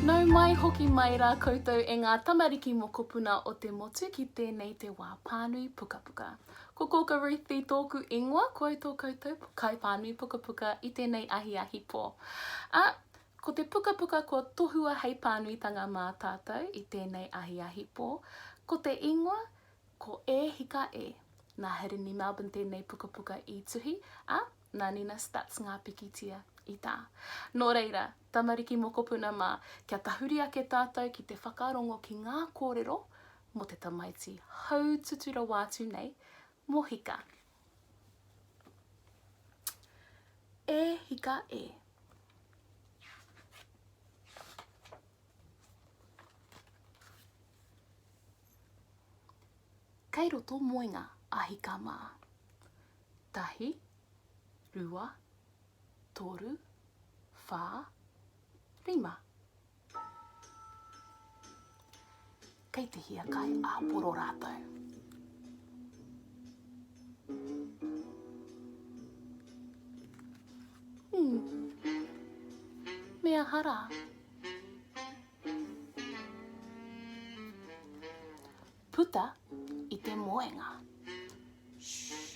Nau mai, hoki mai rā koutou e ngā tamariki mokopuna o te motu ki tēnei te wā pānui pukapuka. Ko Kōka Ruthie tōku ingoa, koe tō koutou kaipānui pukapuka i tēnei ahiahi pō. Ā, Ko te pukapuka kua tohua hei pānuitanga mā tātou i tēnei ahiahi pō, ko te ingoa, ko E Hika E. Nā Hirini Melbourne tēnei pukapuka i tuhi, ā, nā Nina Stutz ngā pikitia i tā. Nō reira, tamariki mokopuna mā, kia tahuri ake tātou ki te whakarongo ki ngā kōrero mō te tamaiti haututu rawa atu nei, mō Hika, E hika e. Kei roto moenga a hika mā. Tahi, rua, toru, whā, rima. Kei te hiakai āporo rātou. Hmm. Me aha rā? Puta i te moenga. Shhh.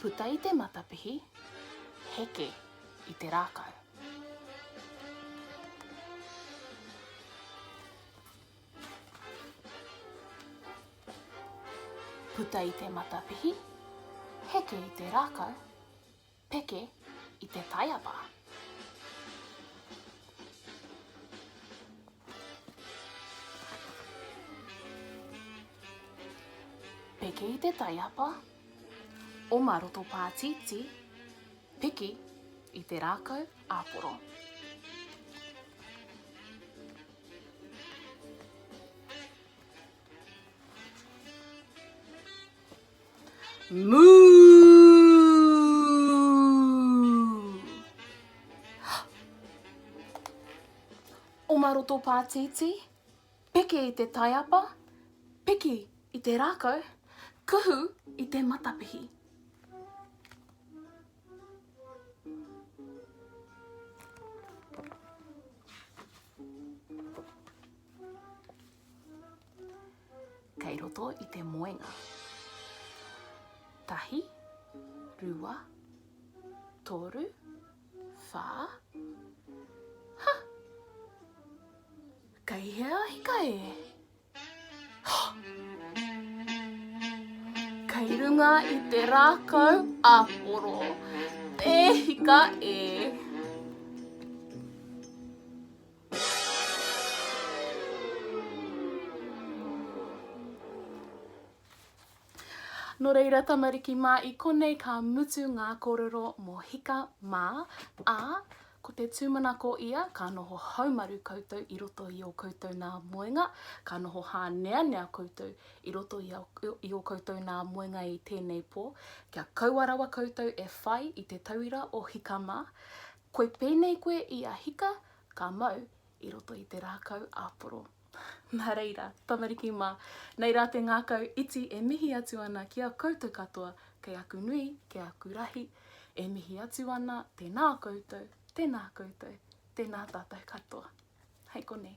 Puta i te matapihi, heke i te rākau. Puta i te matapihi, heke i te rākau. Peke i te taiapa. Peke i te taiapa. Oma roto pātītī. Piki i te rākau āporo. Moo! Oma roto pātītī, peke i te taiapa, piki i te rākau, kuhu i te matapihi. Kei roto i te moenga. Tahi, rua, toru, wha, ha! Kei hea hika e? Ha! Kei runga i te rākau a poro, te hika e? Nō reira, tamariki mā, i konei ka mutu ngā kōrero mō Hika mā, ā, ko te tūmanako ia ka noho haumaru koutou i roto i ō koutou nā moenga, ka noho hāneanea koutou i roto i, i ō koutou nā moenga i tēnei pō, kia kaua rawa koutou e whai i te tauira o Hika mā. Koe pēnei koe i a Hika ka mau i roto i te rākau āporo. Nā reira, tamariki mā, nei rā te ngākau iti e mihi atu ana ki a koutou katoa kei aku nui, kei aku rahi, e mihi atu ana, tēnā koutou, tēnā koutou, tēnā tātou katoa. Hei konei.